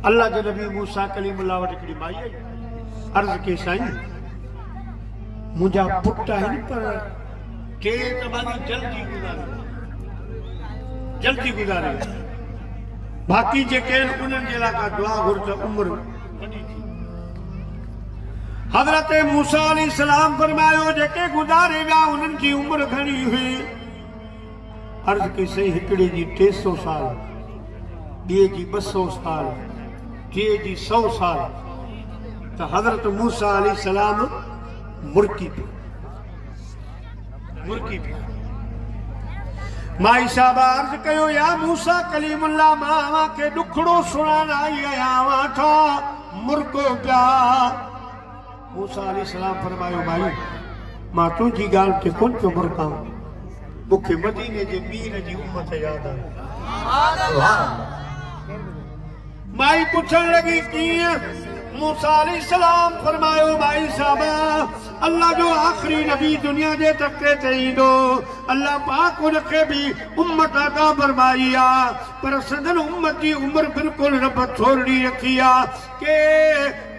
الله جي نبي موسيٰ ڪليم الله وٽ هڪڙي مائي آئي عرض ڪيس سائين منهنجا پٽ آهن پر ٽي ته ماني جلدي گذاري ويا جلدي گذاري ويا باقي جيڪي آهن انهن جي لاء ڪا دعا گهر ته عمر وڏي ٿي. حضرت موسيٰ عليه السلام فرمايو، جيڪي گذاري ويا انهن جي عمر گهڻي هئي؟ عرض ڪئي، سائين هڪڙي جي ٽي سؤ سال، ٻئي جي ٻه سؤ سال، ٽئين جي سؤ سال ته حضرت موسيٰ عليه السلام مرڪي پيو. مرڪي پيا. مائي صاحب عرض ڪيو، يا موسيٰ ڪليم الله مان اوهان کي ڏکڙو سڻائڻ آئي آهيان اوهان ڇا مرڪو پيا. موسيٰ عليه السلام فرمايو، مائي مان تنهنجي ڳالهه تي ڪونه پيو مرڪان مون کي مديني جي مير جي امت ياد آئي. مائي پڇڻ لڳي، ڪيئن؟ موسيٰ عليه السلام فرمايو، مائي صاحب! الله جو آخري نبي دنيا جي تختي تي ايندو، الله پاڪ ان کي به امت عطا فرمائي آ، پر سندن امت جي عمر بلڪل رب ٿورڙي رکي آ، ڪي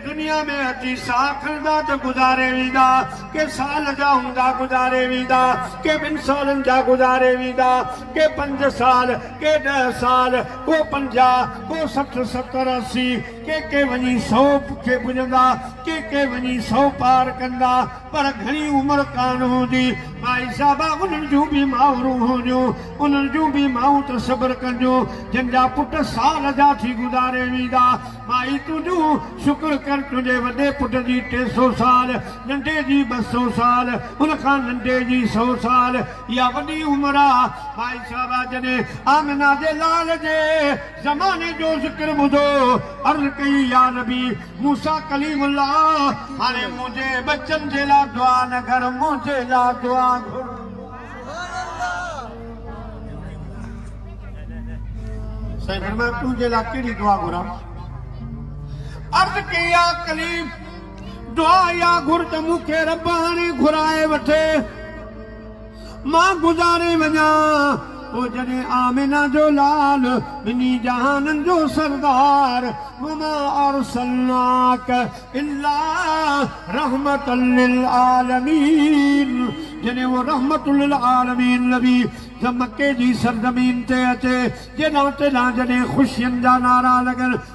دنيا ۾ اچي ساهه کڻندا ته گذاري ويندا، ڪي سال جا هوندا گذاري ويندا، ڪي ٻن سالن جا گذاري ويندا، ڪي پنج سال، ڪي ڏهه سال، ڪو پنجاهه، ڪو سٺ، ستر، اسي. ڪي ڪي وڃي سو کي پڄندا، ڪي ڪي وڃي سو پار ڪندا، پر گهڻي عمر ڪانه هوندي. ڀائي صاحبه، انهن جون به مائرون هونديون، انهن جون به مائون ته صبر ڪنديون، جن جا پٽ سال جا ٿي گذاري ويندا. مائي تنهنجو شڪر ڪر، تنهنجي وڏي پٽ جي ٽي سو سال، ننڍي جي ٻه سو سال، ان کان ننڍي جي سو سال، اها وڏي عمر آ. ڀائي صاحبه، جڏهن آمنه جي لال جي. زماني جو ذڪر ٻڌو، عرض ڪئي يا نبي موسيٰ ڪليم الله هاڻي منهنجي ٻچن جي لا دعا نه گهر منهنجي لا دعا گهر. سائين فرمايو تنهنجي لا ڪهڙي دعا گهران؟ عرض ڪئي يا ڪليم دعا اها گهر ته مون کي رب هاڻي گهرائي وٺي. مان گذاري وڃان پوء جڏهن آمنه جو لال ٻنهي جهانن جو سردار وما ارسلناک الا رحمة للعالمين جڏهن اهو رحمة للعالمين نبي مڪي جي سرزمين تي اچي جيڏانهن تيڏانهن جڏهن خوشين جا نعرا لڳن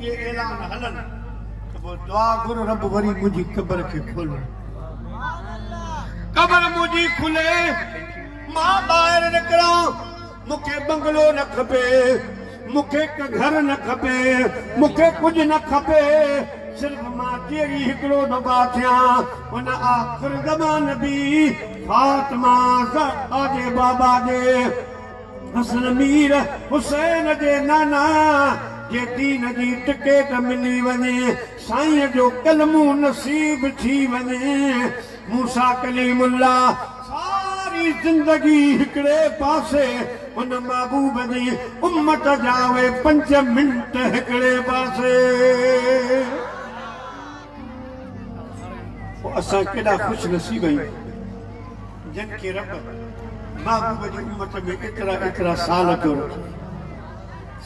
اهي اعلان هلن ته پوء دعا گهر رب وري منهنجي قبر کي کولڻ ڏي. قبر منهنجي کلي مان ٻاهر نڪران مون کي بنگلو نه کپي مون کي گهر نه کپي مون کي ڪجهه نه کپي صرف مان جيئري هڪڙو دفعا ٿيان ان آخر زمان نبي فاطمه زهرا جي بابا جي حسن مير حسين جي نانا جي دين جي ٽڪيٽ ملي وڃي سائين جو ڪلمون نصيب ٿي وڃي موسيٰ ڪليم الله ساري زندگي هڪڙي پاسي ان محبوب جي امت جا اهي پنج منٽ هڪڙي پاسي. پوء اسان ڪيڏا خوش نصيب آهيون جن کي رب محبوب جي امت ۾ ايترا ايترا سال اچو رکي.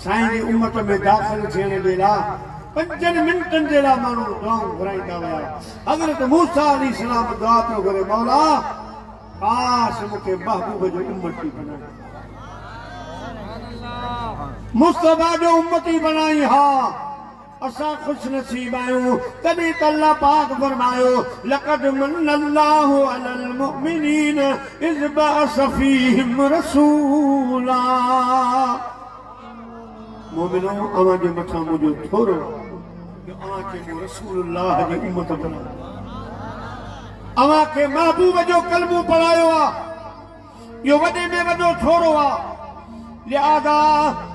سائين جي امت ۾ داخل ٿيڻ جي لا پنجن منٽن جي لا ماڻهو دعائون گهرائيندا هيا حضرت موسيٰ عليه السلام دعا پيو گهري مولا ڪاش مون کي محبوب جو امتي بنائين مصطفيٰ جو امتي بنائين ها. اسان خوش نصيب آهيون تڏهن ته الله پاڪ فرمايو، لقد من الله علي المؤمنين اذ بعث فيهم رسولا مؤمنو اوهان جي مٿان منهنجو ٿورو رحم آهي جو اوهان کي مون رسول الله جي امت بنايو آهي اوهان کي محبوب جو ڪلمو پڙهايو آهي. اهو وڏي ۾ وڏو ٿورو آ، لهٰذا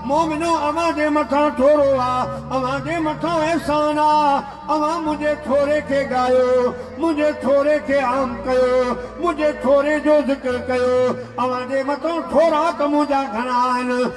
مومنو اوهان جي مٿان ٿورو آ، اوهان جي مٿان احسان آ، اوهان منهنجي ٿوري کي ڳايو، منهنجي ٿوري کي عام ڪيو، منهنجي ٿوري جو ذڪر ڪيو، اوهان جي مٿان ٿورا ته منهنجا گهڻا آهن،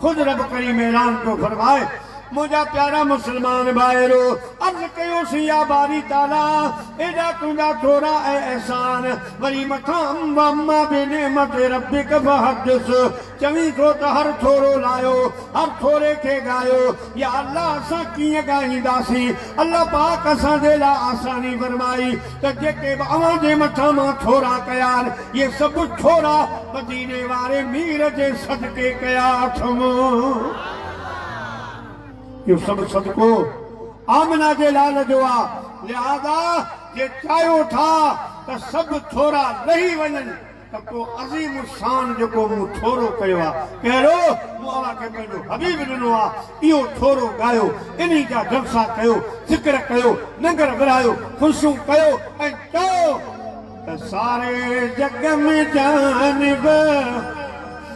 خود رب ڪريم اعلان پيو فرمائي، منهنجا پيارا مسلمان ڀائرو! عرض ڪيوسين يا باري تعاليٰ! ايڏا تنهنجا ٿورا ۽ احسان، وري مٿان واما بنعمت ربک فحدث، چوين ٿو ته هر ٿورو لايو، هر ٿوري کي ڳايو، يا الله اسان ڪيئن ڳائينداسين؟ الله پاڪ اسان جي لاء آساني فرمائي، ته جيڪي به اوهان جي مٿان مان ٿورا ڪيا آهن، اهي سڀ ٿورا مديني واري مير جي صدقي ڪيا اٿم. اهو سڀ صدقو آمنه جي لال جو آ، لهذا جي چاهيو ٿا ته سڀ ٿورا لهي وڃن. ته ڪو عظيم الشان جيڪو مون ٿورو ڪيو آ ڪهڙو مون اوهان کي پنهنجو حبيب ڏنو آ اهو ٿورو ڳايو انهي جا جلسا ڪيو ذڪر ڪيو ننگر ورهايو خلشون ڪيو ۽ چئو ته ساري جڳ ۾ جانب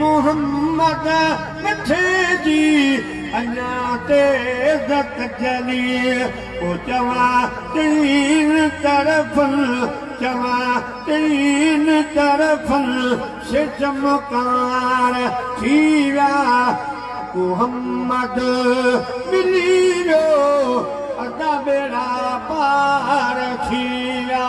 محمد مٺي جي اڃا تيز ڪجلي پو چوان چئين طرفن چوان چئين طرفن سي چمڪار ٿي ويا محمد ملي ويو ادا ٻيڙا پار ٿي ويا.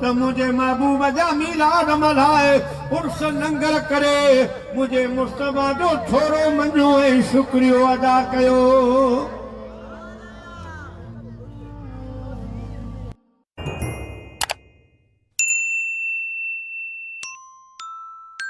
ته منهنجي محبوب جا ميلاد ملهائي عرس ننگر ڪري منهنجي مصطفيٰ جو ٿورو مڃو ۽ شڪريو ادا ڪيو.